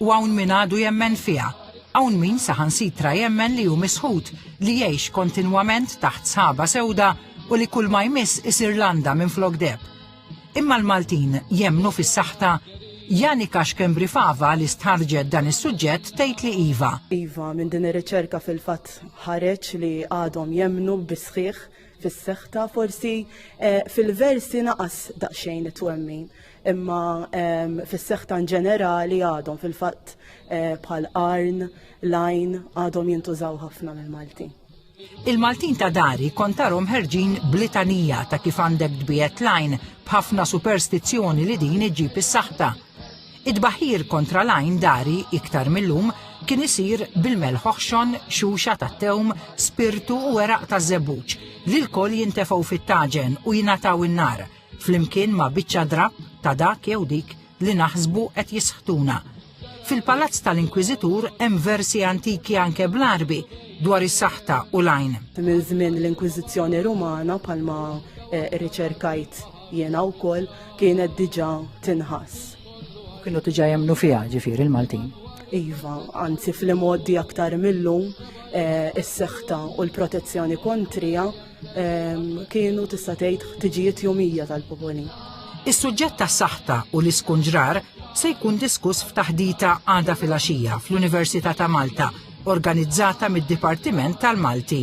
U hawn min għadu jemmen fiha. Hawn min saħansitra jemmen li hu misħut li jgħix kontinwament taħt sħaba sewda u li kull ma jmiss isir landa minn flok deb. Imma l-Maltin jemmnu fis-saħta Janika Xkembri Fava li stħarġet dan is-suġġett tgħid li iva. Iva, minn din ir-riċerka fil-fatt ħareġ li għadhom jemnu bisħiħ fis-seħta forsi eh, fil-versi naqas daqsxejn it-twemmin. imma fis-seħħ ta' ġenerali għadhom fil-fatt eh, bħal arn, lajn għadhom jintużaw ħafna mill-Malti. Il-Maltin ta' dari kontarom ħerġin blitanija ta' kif għandek dbijet lajn b'ħafna superstizzjoni li din iġib is-saħta. Id-baħir kontra lajn dari iktar mill-lum kien isir bil-melħoħxon, xuxa ta' tewm, spirtu u eraq ta' zebuċ li l-koll jintefgħu fit-taġen u jingħataw in-nar flimkien ma' biċċa drab ta' dak jew dik li naħsbu qed jisħtuna. Fil-palazz tal-Inkwiżitur hemm versi antiki anke bl-Arbi dwar is-saħta u l-għajn. Minn żmien l-Inkwiżizzjoni Rumana palma eh, riċerkajt jiena wkoll kienet diġà tinħass. Kienu diġà jemnu fiha ġifieri l-Maltin. Iva, anzi fl-imoddi aktar millum eh, is-seħta u l-protezzjoni kontrija kienu tista' tgħid ħtiġijiet jomija tal-popoli. Is-suġġett ta' saħta u l-iskunġrar se jkun diskuss f'taħdita għada fil-għaxija fl-Università ta' Malta, organizzata mid-Dipartiment tal-Malti.